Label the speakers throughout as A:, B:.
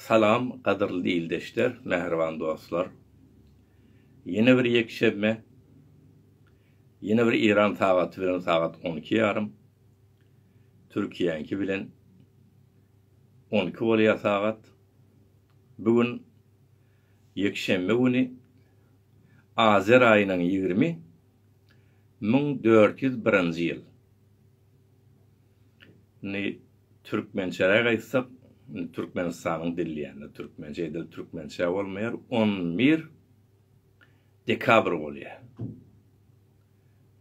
A: Salam gadyrly ildeşler, mähriban dostlar! Ýene bir ýekşenbe, ýene bir Eýran sagaty bilen sagat on iki ýarym, Türkiýäňki bilen on iki bolýar sagat. Bu gün ýekşenbe güni Azer aýynyň ýigrimi müň dört ýüz birinji ýyl. Indi türkmençeräk aýtsak, indi Türkmenistanyň dil diýende türkmençe edil türkmençe bolmaýar, on bir dekabr bolýar.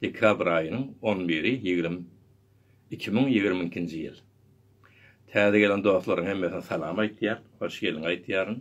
A: Dekabr aýynyň on biri ýigrimi iki müň ýigrimi ikinji ýyl. Täze gelen dostlaryň hemmesine salam aýtýan, hoş geldiň aýtýaryn.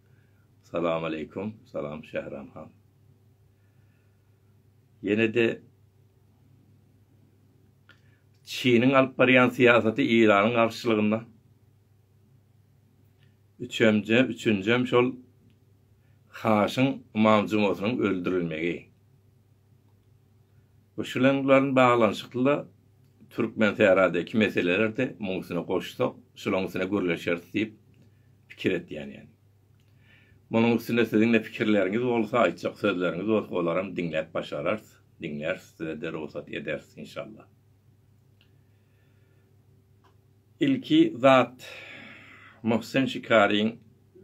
A: Salam aleykum salam Şähran han. Ýenede Çiniň alyp barýan syýasaty Iranyň garşylygynda. Üçemje, üçünjem şol Haşyň Imam Jumasynyň öldürilmegi. Bu şleňglaryň baglanyşykly-da Türkmensähradaky meseleler-de muň üstüne goşsak, şulaň üstüne gürleşeris diýip pikir etýän ýaly. Munuň üstünde siziň-de pikirleriňiz bolsa, aýtjak sözleriňiz bolsa, olaram diňläp başararys, diňläris, size-de rugsat ederis, inşallah. Ilki zat, Mohsen Şikaryň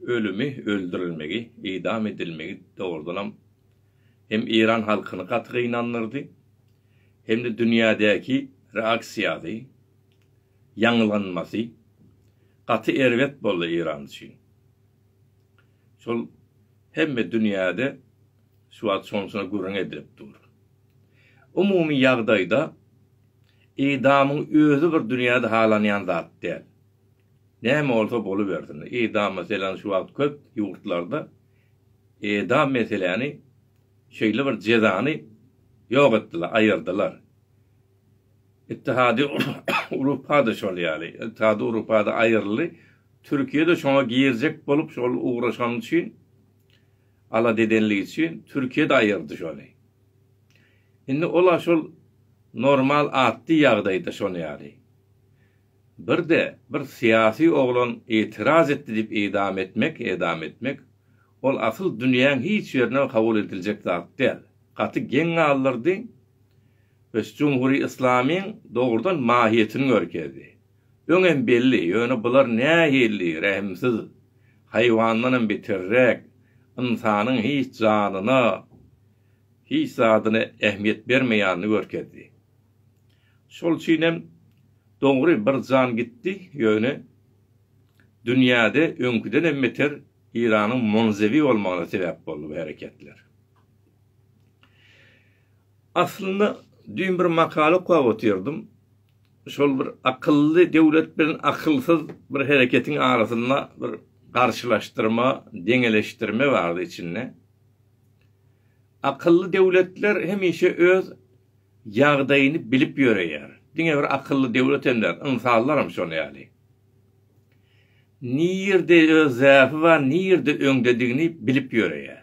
A: ölümi, öldürilmegi, idam edilmegi dogrudanam hem Eýran halkyny gaty gynandyrdy, hem-de dünýädäki reaksiýasy, ýaňlanmasy gaty erbet boldy Eýran üçin. Şol hemme dünýäde şu wagt şonçuna gürrüň edilip dur. Umumy ýagdaýda idamyň özi bir dünýäde halanýan zat däl. Näme bolsa bolubersin. Idam meselem şu wagt köp ýurtlarda edam meseläni şeýle bir jezany ýok etdiler, aýyrdylar. Ittihady Urupa-da şol ýaly, Ittihady Urupa-da aýyryldy. Türkiýe-de şoňa girjek bolup şol ugraşany üçin, alada edenligi üçin Türkiýe-de aýyrdy şony. Indi ol-a şol normal atdy ýagdaýda şony ýaly. Bir-de bir syýasy oglan itiraz etdi diýip idam etmek, edam etmek, ol asyl dünýäň hiç ýerinde kabul ediljek zat däl. Gaty geň galdyrdy we jumhury yslamyň dogrudan mahiýetini görkezdi. Öňem belli, ýöne bular nähili rehimsiz, haýwandanam beterräk, ynsanyň hiç janyna, hiç zadyna ähmiýet bermeýänini görkezdi. Şol üçinem dogry bir jan gitdi, ýöne dünýäde öňküdenem beter Iranyň monzewi bolmagyna sebäp boldy bu hereketler. Aslynda düýn bir makala okap otyrdym. Şol bir akylly döwlet bilen akylsyz bir hereketiň arasynda bir garşylaşdyrma, deňeleşdirme bardy içinde. Akylly döwletler hemişe öz Ýagdaýyny bilip ýöreýär. Diňe bir akylly döwletem däl, ynsanlaram şol ýaly. Nirde öz zäfi bar, nirde öňdedigini bilip ýöreýär.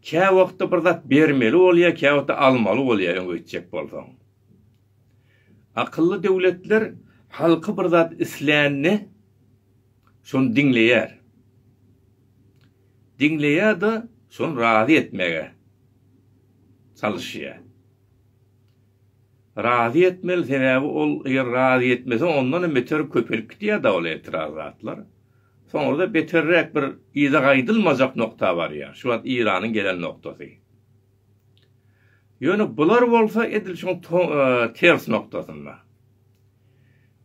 A: Kä wagtda bir zat bermeli bolýar, kä wagtda almaly bolýar öňe gitjek bolsaň. Akylly döwletler halky bir zat islände şony diňleýär. Diňleýär-de, şony razy etmäge. çalyşýar. Razy etmeli, sebäbi ol eger razy etmese, ondanam beter köpelip gidýär da ol etiraz zatlar. Soňra-da beterräk bir yza gaýdylmajak nokta barýar. Şu wagt Iranyň gelen noktasy. Ýöne bular bolsa edil şuň ters noktasynda.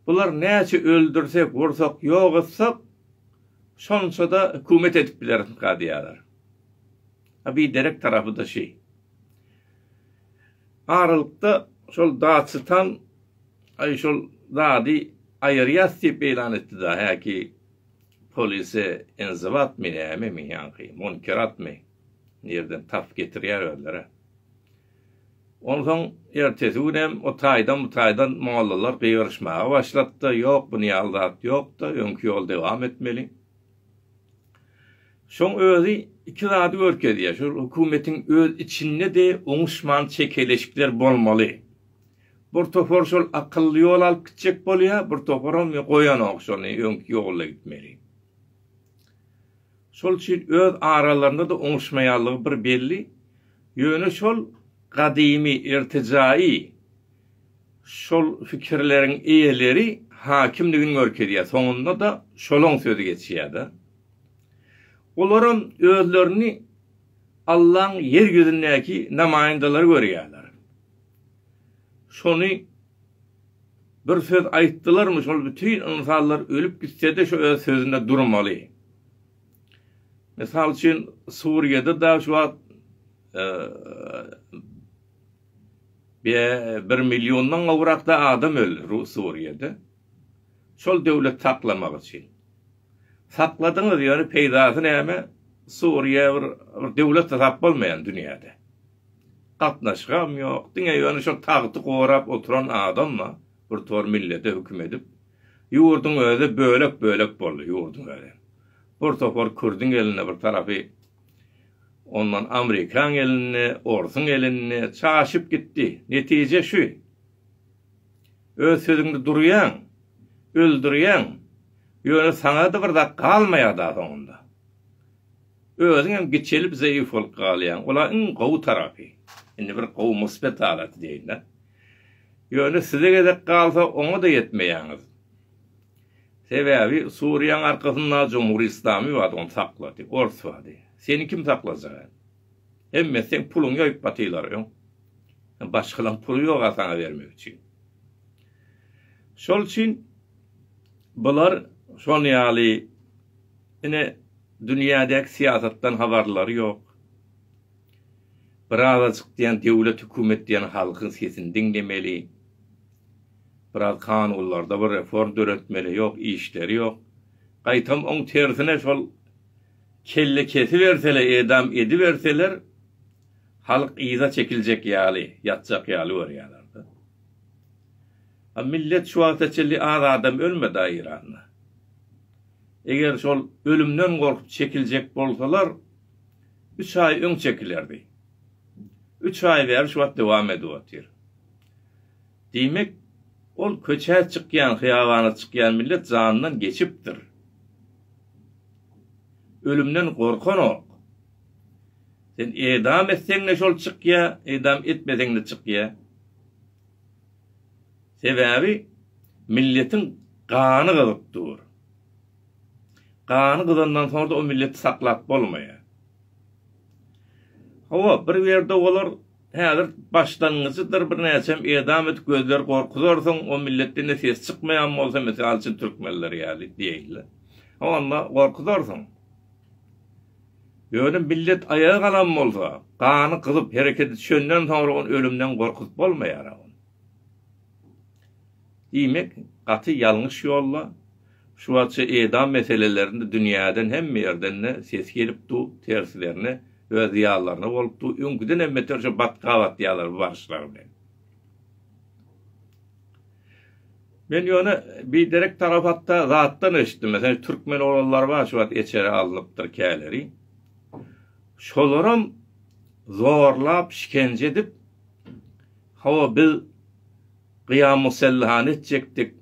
A: Bular näçe öldürsek, ursak, ýok etsak, şonça-da hökümet edip bileriskä diýýärler. A biderek tarapy-da şi. Aralykda şol Daçytan Aý şol zady aýyrýas diýip ýlan etdi-da häki polise enziwatmy nämemi ýaňky munkeratmy nirden tapyp getirýär özler-ä. Onsoň ertesi günem o taýdan bu taýdan mollalar gygyryşmaga başlapdy ýok bu niýaly zat ýokda öňki ýoly dewam etmeli Şoň özi iki zady görkezýär, şol hökümetiň öz içinde-de oňuşman çekeleşikler bolmaly. Bir topar şol akylly ýol alyp gitjek bolýar, bir toparam goýanok şony, öňki ýolda gitmeli. Şol üçin öz aralarynda-da oňuşmaýanlygy bir belli. Ýöne şol gadymy, irtijaýy, Şol pikirleriň eýeleri hakimligini görkezýär. Soňunda-da şolaň sözi geçýär-de. Olaram özlerini Allaň ýer ýüzündäki namaýyndalary görýärler. Şony bir söz aýtdylarmy, şol bütin ynsanlar ölüp gitse-de şu öz sözünde durmaly. Mysal üçin, Suriýada-da şu wagt Bee bir milliondan gowrakda adam öldi ru suriýede şol döwlet saklamak üçin sakladyňyz ýöne peýdasy näme suriýe bir bir döwlet hasap bolmaýan dünýäde gatnaşygam ýok diňe ýöne şol tagty gorap oturan adamma bir tor millete hüküm edip ýurduň özi bölek bölek boldy ýurduň özi bir topar kürdüň elinde bir tarapy Ondan amrikaň elinde, orsuň elinde çaşyp gitdi. Netije şu. Öz sözüňde durýaň, öldürýäň, ýöne saňa-da bir zat galmaýar-da soňunda. Özüň hem giçelip zeýif bolup galýaň. Ol-a iň gowy tarapy. Indi bir gowy musbet halaty diýeýin-dä. Ýöne size gezek galsa oňa-da ýetmeýäňiz. Sebäbi Suriýaň arkasynda Jumhur Islamy bar ony saklady ors bady seni kim saklajak el hemmesi seň puluň ýoýup batylar öň başgalaň puly ýok a saňa bermek üçin şol üçin bular şon ýaly ine dünýädäki syýasatdan habarlary ýok bir azajyk diýen döwlet hükümet diýen halkyň sesini diňlemeli. Biraz kanunlarda bir reform döretmeli ýok işleri ýok. Gaýtam oň tersine şol kelle kesibersele edam ediberseler halk yza çekiljek ýaly ýatjak ýaly görýälerda. A millet şu wagta çenli az adam ölmeda Iranda. Eger şol ölümden gorkup çekiljek bolsalar üç aý öň çekilerdi. Üç aý bäri şu wagt dowam edip otyr. Diýmek, ol köçä çykýan, hyýabana çykýan millet janyndan geçipdir. Ölümden gorkanok. Sen edam etseň-de şol çykýa, edam etmeseň-de çykýa. Sebäbi milletiň gany gyzyp dur. Gany gyzandan soňra-da o milleti saklap bolmaýar. Hawa, bir ýerde olar Häzir başlangyjydyr birnäçem edam et gözler gorkuzarsyň o millet dine ses çykmaýan bolsa mysal üçin türkmenler ýaly diýeýle onda gorkuzarsyň ýöne millet aýaga galan bolsa gany gyzyp herekete düşenden soňra ony ölümden gorkuzyp bolmaýar diýmek gaty ýalňyş ýolda Şu wagtça edam meselelerinde dünýäden hemme ýerden-de ses gelip du, terslerine we zyýanlaryna bolup du, öňküdenem beter şu batga batýarlar bu baryşlary bilen. Men ýöne biderek tarapatda zatdan eşitdim, meselem, türkmen oglanlar bar şu wagt eçere alnypdyr käleri. Şolaram zorlap, şikence edip, hawa biz Gyýamusselhany etjekdik,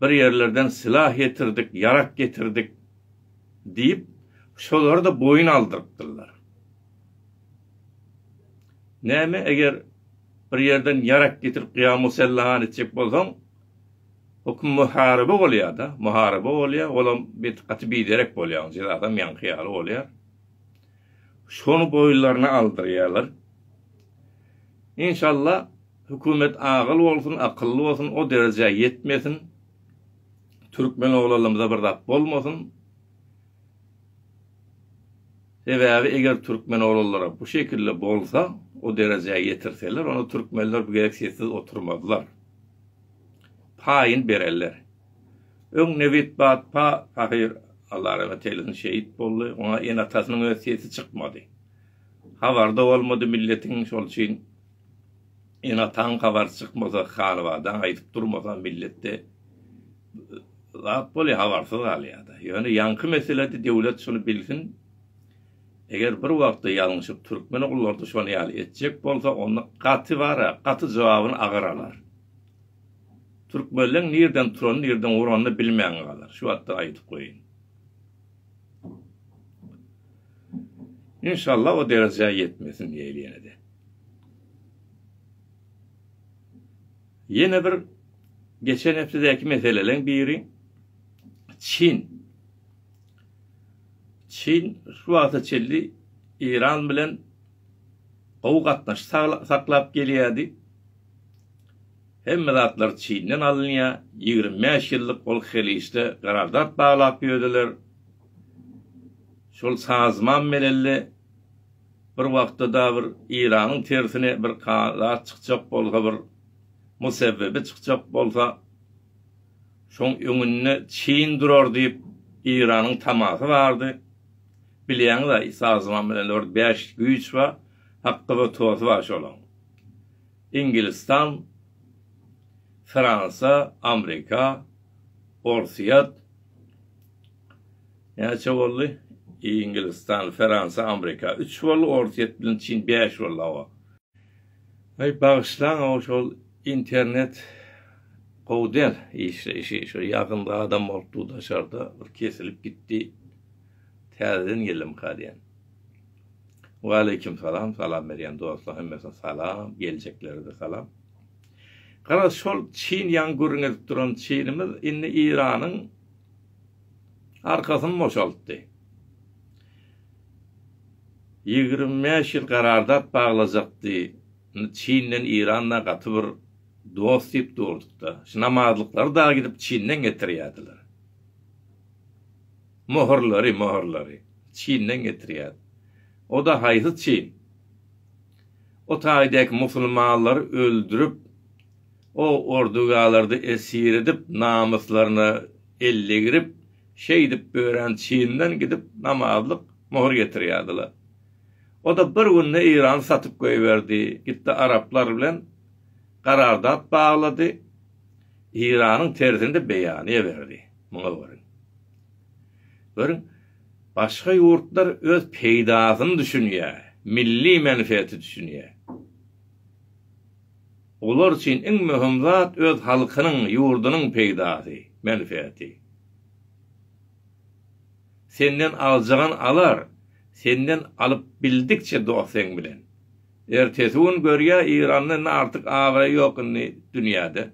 A: bir ýerlerden sylah getirdik, ýarak getirdik diýip, şolary-da boýun aldyrypdyrlar. Näme, eger bir ýerden ýarak getirip Gyýamusselhany etjek bolsaň, höküm muharyba bolýar-da, muharyba bolýar, olam bet, gaty biderek bolýar, oň jezasam ýaňky ýaly bolýar. Şony boýunlaryna aldyrýarlar. Inşallah, Hökümet agyl bolsun akylly bolsun o derejä ýetmesin Türkmen oglanlarymyza bir zat bolmasyn Sebäbi eger Türkmen oglanlara bu şekilde bolsa o derejä ýetirseler onda Türkmenler bu gezek sessiz oturmazlar paýyn bererler Öň Nebit Batpa pahyr Allah rahmet eýlesin şehit boldy oňa ene atasynyň öz sesi çykmady habarda bolmady milletiň şol üçin Enataň habary çykmasa halybadan aýdyp durmasa milletde zat bolýar habarsyz galýada. Ýöne ýaňky meselede döwlet şuny bilsin eger bir wagtda ýalňyşyp türkmen ogullary şony ýaly etjek bolsa onda gaty bara gaty jogabyny agyr alar. Türkmenleň nirden turany nirden uranyny bilmän galar şu wagtdan aýdyp goýyn. Inşallah o derejä ýetmesin diýeli ýenede. Ýene bir geçen hepdedäki meseleleň biri Çin. Çin şu wagta çenli Eýran bilen gowy gatnaşyk saklap gelýärdi. Hemme zatlar Çinden alynýar. Ýigrimi bäş ýyllyk ol Heliçde garardat baglap ýördiler. Şol sazmam melelle Bir wagtda-da bir Iranyň tersine bir zat çykjak bolsa, bir musebbebi çykjak bolsa, şoň öňünde Çin durar diýip, Iranyň tamasy bardy. Bilýäňiz-ä, sazman bilen dört, bäş güýç bar, hakda bir tosy bar şolaň. Ingilistan, Fransa, Amrika, Orsýet. Näçe boldy? I Ingilistan, Feransa, Amrika üç boldy, Orsýet bilen Çin bäş boldy hawa. Aý bagyşlaň hawa şol internet gowy däl işleýşi şo ýakynda adam bolupdy daşarda bir kesilip gitdi täzeden geldimuka diýen. Waleýkim salam salam berýän dostlar hemmesine salam geljeklere-de salam. Garaz şol Çin ýaňy gürrüň edip duran Çinimiz indi Iranyň arkasyny boşaltdy. Ýigrimi bäş ýyl garardat baglajakdy. Indi Çinden Iranda gaty bir dost diýip durduk-da. Şu namazlyklary dagy gidip Çinden getirýärdiler. Möhürleri, möhürleri. Çinden getirýärdi. O-da haýsy Çin? O taýdäki musulmanlary öldürip, O ordugalardy esir edip, namyslaryna el degirip, şeýdip örän çyndan gidip namazlyk möhür getirýärdiler. O-da bir günde Eýrany satyp goýberdi, gitdi araplar bilen garardat baglady, Eýranyň tersini-de beýanyýa berdi. Muňa görüň. Görüň, başga ýurtlar öz peýdasyny düşünýär, milli menfeeti düşünýär. Olar üçin iň möhüm zat öz halkynyň, ýurdunyň peýdasy, menfeati. Senden aljagan alar, senden alyp bildikçe dost seň bilen. Ertesi gün görýä Iranda indi artyk abraý ýok indi dünýäde.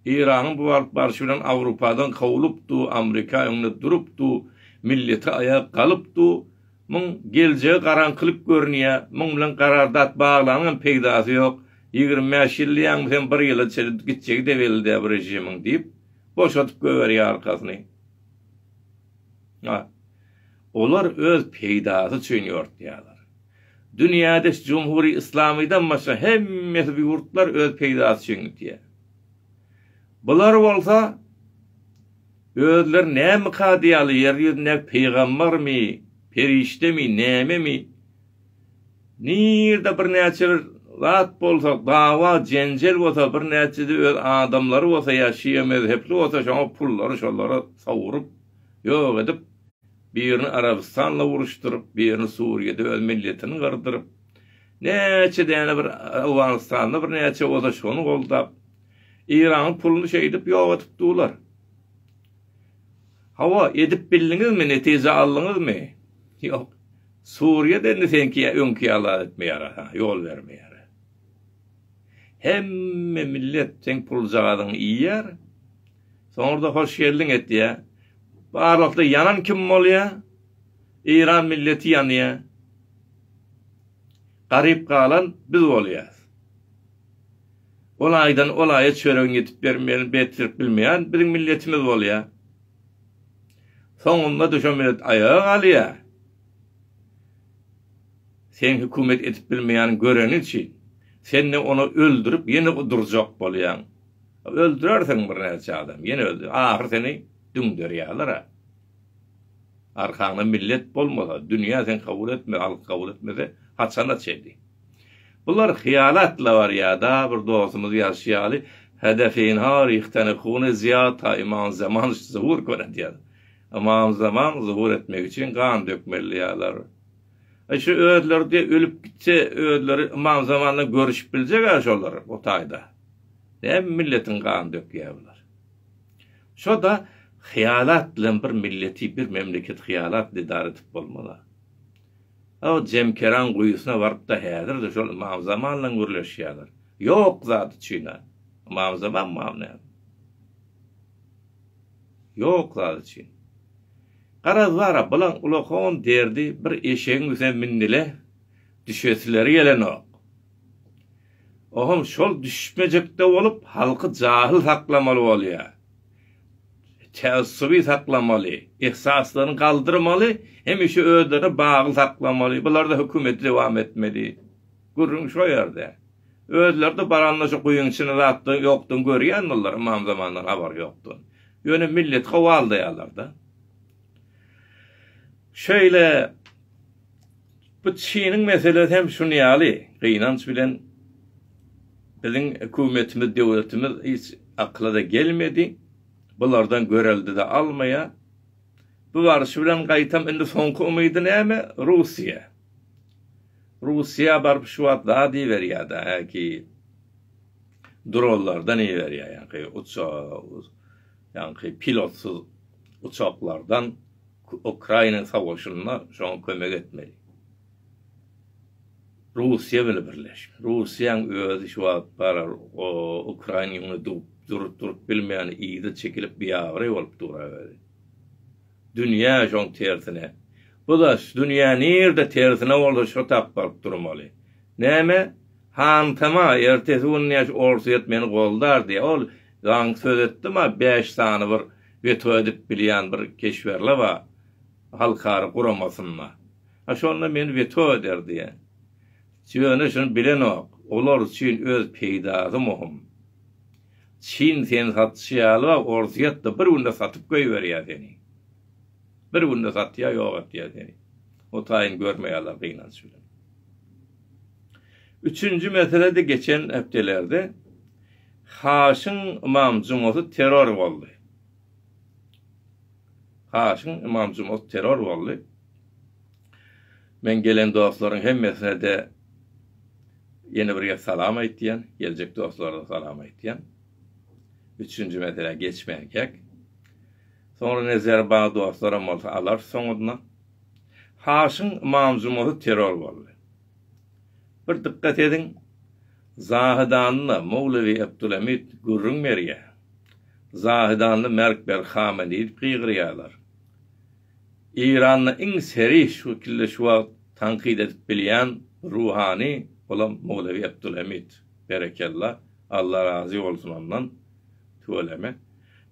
A: Iranyň bu alyp barşy bilen Awrupadan kowlupdu, Amrika öňde durupdu, milleti aýa galypdu, Muň geljegi garaňkylyk görünýä, muň bilen garardat baglanyňam peýdasy ýok, ýigrimi bäş ýyl diýýäňmiz hem bir ýyla çenli gitjegi-de belli däl bu režimiň diýip, boşadyp goýberýä arkasyny. A. Olar öz peýdasy üçin ýortýalar. Dünýäde şu jumhuri yslamydan başga hemmesi bu ýurtlar öz peýdasy üçin gitýä. Bular bolsa. Özleri näme kady ýaly ýer ýüzündäki pygambarmy, perişdemi, nämemi? Nirede birnäçe bir zat bolsa, dawa, jenjel bolsa, birnäçesi öz adamlary bolsa ýa şia mezhepli bolsa şoňa pullary şolara sowuryp, ýok edip, birini Arabystanla uruşdyryp, birini Suriýede öz milletini gyrdyryp, näçe däne bir Owganystanda birnäçe bolsa şony goldap, Iranyň puluny şeýdip ýok edip dular. Hawa, edip bildiňizmi, netije aldyňyzmy? Ýok. Suriýada indi seňki öňki ýaly etmeýär, ýol bermeýär. Hemme millet seň puljagazyňy iýýär. Soňra-da hoş geldiň etýär. Barlykda ýanan kim bolýar? Iran milleti ýanýar. Garyp galan biz bolýas. Ol aýdan ol aýa çöregiň ýetip bermegini betlirk bilmeýän biziň milletimiz bolýa. Soňunda da şo millet aýaga galýa. Sen hökümet edip bilmeýän göreni üçin, sende ony öldürip ýene durjak bolýaň. Öldürersiň bir näçe adam, ýene öldür. Ahyr seni düňderýäler-ä. Arkaňda millet bolmasa, dünýä sen kabul etme, halk kabul etmese, haçana çenli? Bular hyýanat labar ýada bir dostumyz ýazyşy ýaly Hede Finhar ihtene hune ziyad ta imam zaman zuhur konet ýaz. Imam zaman zuhur etmek üçin gan dökmeli ýalar. Aý şu özleri diýe ölüp gitse özleri imam zamandan görüşip biljek a şolar o taýda. Näme milletiň gan dökýä bular. Şo da hyýanat bilen bir milleti bir memleketi hyýanat edar edip bolmaz a. O Jemkeraň guýusyna baryp-da häzir-de şol Ymam Zamanlaň gürleşýärler. Ýok zady çyn-a. Ymam Zaman mam näme? Ýok zady çyn. Garaz bar-a, bulaň ulakon derdi bir eşegiň üstüne mindi-le, düşesileri gelenok. Oňam şol düşmejek-de bolup, halky jahyl saklamaly bolýar. tässury saklamaly, ehsaslaryny galdyrmaly, hemişe özlerini bagly saklamaly, bularda hökümeti dowam etmeli. Gürrüň şo ýerde. Özleri-de baranda şu guýyň içini zatdan ýokdan görýän bular, ymam zamandan habary ýokdan. Ýöne milleti gowaldaýarlar-da. Şeýle Bu çynyň meselesi hem şuny ýaly, gynanç bilen biziň hökümetimiz, döwletimiz hiç akyla-da gelmedi, bulardan görelde-de almaýar. Bu baryşy bilen gaýtam indi soňky umydy näme? Russiýa. Russiýa baryp şu wagt zat iberýär-de, häki dronlardan iberýär, ýaňky uçar, ýaňky pilotsyz uçaklardan. Ukraina sowaşynda şoňa kömek etmeli. Russiýa bile birleşmeli. Russiýaň özi şu wagt bar o Ukraina ýüňüne dup durup durup bilmeýän yza çekilip biabraý bolup dur a özi. Dünýä şoň tersine. Bu da dünýä nirde tersine bolsa şo tap baryp durmaly. Näme? Hantama ertesi gün näş Orsýet meni goldar diýýä. Ol zaň söz etdim a bäş sany bir weto edip bilýän bir keşberle bar halkara guramasynda. A şonda men weto eder diýen. Ýöne şuny bilenok, olar üçin öz peýdasy muhym. Çin seni satyşy ýaly bag orsýetde bir günde satyp goýberýär seni. Bir günde satýar ýok etýär seni. O taýyny görmeýärler gynanç bilen. Üçünji mesele-de geçen hepdelerde Haşyň Ymam Jumasy terror boldy. Haşyň Ymam Jumasy terror boldy. Men gelen dostlaryň hemmesine-de ýene bir gezek salam aýtýan, geljek dostlara-da salam aýtýan. Üçünji meselä geçmänkäk, soňra nezeri bar dostlaram bolsa alarys soňudyna. Haşyň Ymam Jumasy terror boldy. Bir dykgat ediň, zahydanly Mowlewi Ebdulemit gürrüň berýär, zahydanly Merk Berk Hame diýip gygyrýarlar. Eýranda iň serih şu wekilde şu wagt tankyt edip bilýän bir ruhany, olam Mowlewi Ebdulemit. Berekella, Alla razy bolsun ondan. Tüweleme.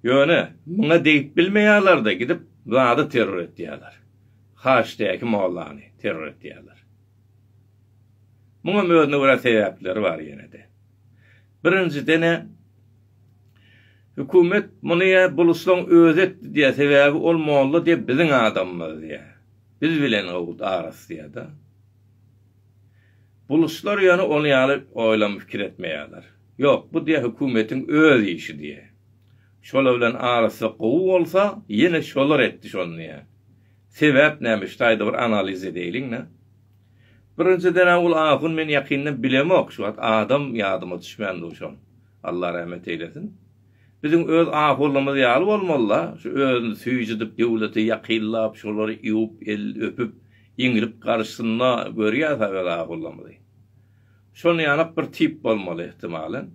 A: Ýöne, muňa degip bilmeýärler-de, gidip zady terror etýärler. Haçdäki mollany terror etýärler. Muňam özüne görä sebäpleri bar ýene-de. Birinjiden-ä, hökümet muny ýa Buluslaň özi etdi diýýär, sebäbi ol molla diýýär biziň adamymyz diýýär. Biz bilen owut arasy diýýär-de. Buluslar ýöne ol ýaly oýlam pikir etmeýärler. Ýok, bu diýýär hökümetiň öz işi diýýär. Şolar bilen arasy gowy bolsa, ýene şolar etdi şony diýýä. Sebäp näme? Şu taýda bir analiz edäýliň-le. Birinjiden-ä ol ahun men ýakyndan bilemok, şu wagt adam ýadyma düşmän dur şol. Allah rahmet eýlesin. Biziň öz ahunlarymyz ýaly bolmaly-la, şu özüni süýjüdip, döwlete ýakynlap, şolary iwip, el öpüp, iňlip garyşsyn-la, görýäs-ä öz ahunlarymyzy. Şonuň ýaly-ak bir tip bolmaly, ehtimalen.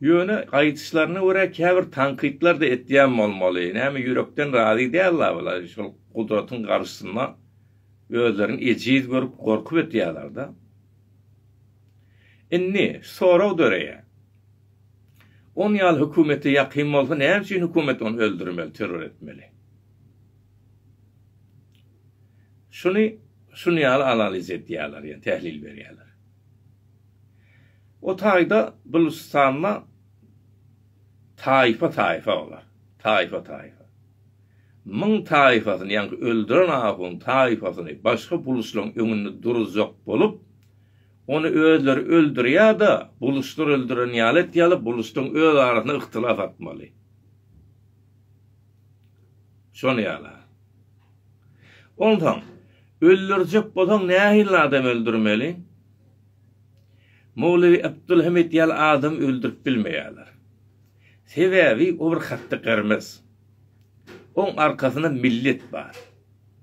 A: Ýöne, aýdyşlaryna görä, käbir tankytlar-da etýän bolmaly. Näme, ýürekden razy däl-la bular. Şol gudratyň garşysynda özlerini ejiz görüp, gorkup ötýärler-de. Indi, sorag döreýär. On ýaly hökümete ýakyn bolsa, näme üçin hökümet ony öldürmeli, terror etmeli? Şuny şuny ýaly analiz edýärler, ýa tählil berýärler. O taýda Gülüstanda taýfa-taýfa olar. Taýfa-taýfa. Müň taýfasyny, ýaňky öldüren ahunyň taýfasyny başga buluçlaryň öňünde duruzjak bolup, ony özleri öldürýär-de, buluçlar öldüren ýaly et ýaly, buluçlaryň öz arasynda yhtylas atmaly. Şol ýala. Onsoň, öldürjek bolsaň nähili adam öldürmeli? Mowlewi Abdulhamid ýaly adamy öldürip bilmeýärler. Sebäbi o bir hatdy gyrmyz. Oň arkasynda millet bar.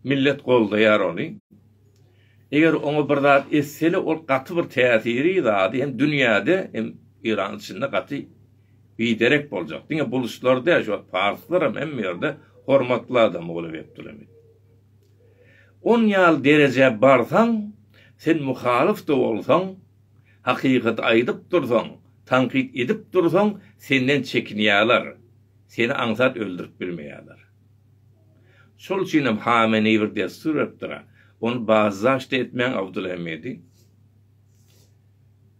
A: Millet goldaýar ony. Eger oňa bir zat etseli ol gaty bir täsiri zady hem dünýäde hem Eýranyň içinde gaty Biderek boljak diňe buluşlar däl şu wagt parslaram hemme ýerde hormatly adam ogly Bekdüramit. On ýaly derejä barsaň sen muhalyfda bolsaň hakykaty aýdyp dursaň tankyt edip dursaň senden çekinýäler seni aňsat öldürip bilmeýäler. Şol üçinem Hameneý bir dessur beripdira ony bazdaşda etmäň Abdulhemidi.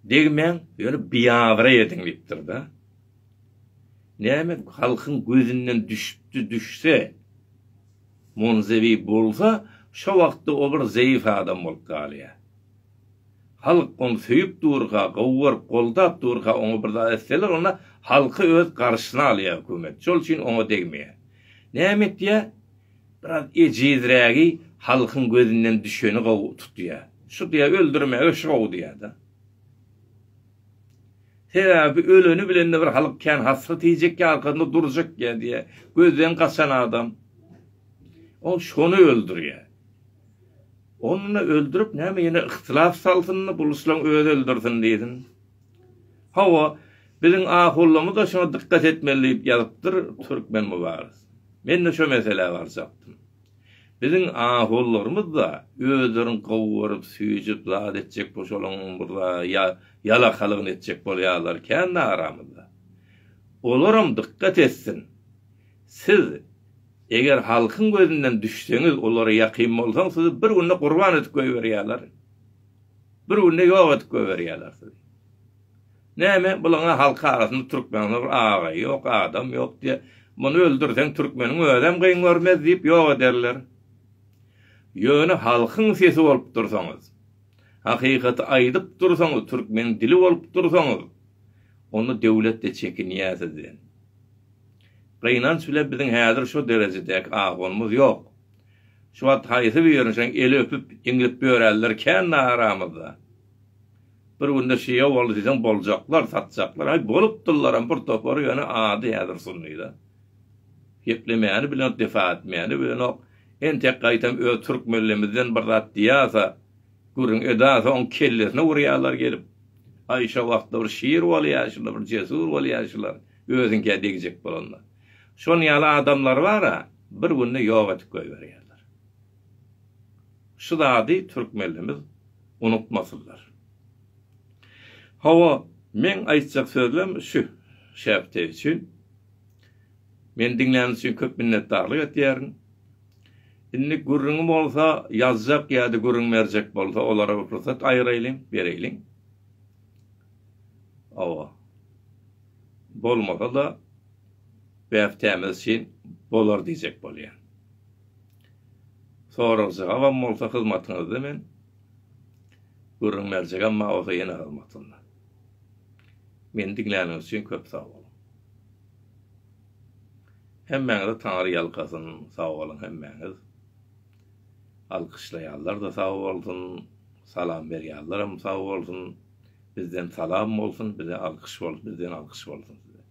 A: Degmäň, ýöne biabraý ediň diýipdir-de. Näme, halkyň gözünden düşüpdi, düşse, monzewi bolsa, şo wagtda o bir zeýif adam bolup galýar. Halk ony söýüp durka, gowy görüp, goldap durka, oňa bir zat etseler, onda halky öz garşyna alýar hökümet. Şol üçin oňa degmeýär. Näme etýär? Biraz ejizrägi halkyň gözünden düşeni gowy tutýar. Şu diýýär, öldürmäge şu gowy diýýär-de. Sebäbi öleni bilen-de bir halk kän hasrat iýjek ýa arkasynda durjak ýa diýýär. Gözden gaçan adam. Ol şony öldürýär. Onda öldürip näme ýene yhtilaf salsyn-da, buluslaň özi öldürsin diýsin. Hawa, biziň ahullamyz-a şuňa dykgat etmeli diýip ýazypdyr Türkmen Mübariz. Men-de şo meselä barjakdym. Biziň ahullarymyz-da özlerini gowy görüp, süýjüp, zat etjek boşalaňyň bir-a ýa ýalakalygyny etjek bolýarlar kän-de aramyzda. Olaram dykgat etsin. Siz, eger halkyň gözünden düşseňiz, olara ýakyn bolsaň, sizi bir günde gurban edip goýberýärler. Bir günde ýok edip goýberýärler sizi. Näme bulaňa halk arasynda türkmeniň bir agaýy ýok, adam ýok diýe. Muny öldürseň türkmeniň özem gyn görmez diýip ýok ederler. Ýöne halkyň sesi bolup dursaňyz, hakykaty aýdyp dursaňyz, türkmeniň dili bolup dursaňyz, onda döwlet-de çekinýär sizden. Gynanç bilen biziň häzir şo derejedäki ahwalymyz ýok. Şu wagt haýsy birini şeň eli öpüp, iňlip ýöränler kän-de aramyzda. Bir günde şeýe boldy diýseň boljaklar, satjaklar, aý, bolupdyllaram bir topary, ýöne ady häzir sunny-da. Geplemäni bilenok, defa etmäni bilenok. Entek gaýtam öz türk mellemizden bir zat diýýärse, gürrüň edärse, oň kellesine urýarlar gelip. Aý, şo wagtda bir şir bolýa, şunda bir jesur bolýa şular, özüňkä degjek bolanlar. Şonuň ýaly adamlar bar-a, bir günde ýok edip goýberýärler. Şu zady türkmenlimiz unutmasynlar. Hawa, meň aýtjak sözlem şu şäpte üçin. Meni diňläniz üçin köp minnetdarlyk etýärin. Indi gürrüňi bolsa, ýazjak ýa-da gürrüň berjek bolsa, olara bir pursat aýyraýlyň, bereýliň. Hawa. Bolmasa-da. bähtämiz üçin bolar diýjek bolýan. Sorag-jogabam bolsa hyzmatyňyzda men, gürrüň berjegem maňa bolsa ýene hyzmatynda. Meni diňläniňiz üçin köp sag boluň. Hemmäňizi Taňry ýalkasyn, sag boluň hemmäňiz. Alkyşlaýanlar-da sag bolsun, salam berýänleram sag bolsun. Bizden salam bolsun, bize alkyş bolsun, bizden alkyş bolsun size.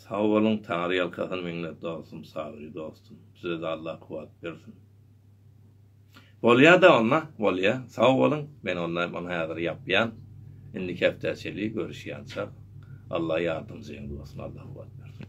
A: Sag boluň Taňry ýalkasyn meňlet dostum Sabyry dostum sizede Allah kuwat bersin. Bolýada onda bolýa sag boluň men onda muny häzir ýapýan indiki hepdä çeli görüşýançak Allah ýardymjyň bolsun Allah kuwat bersin.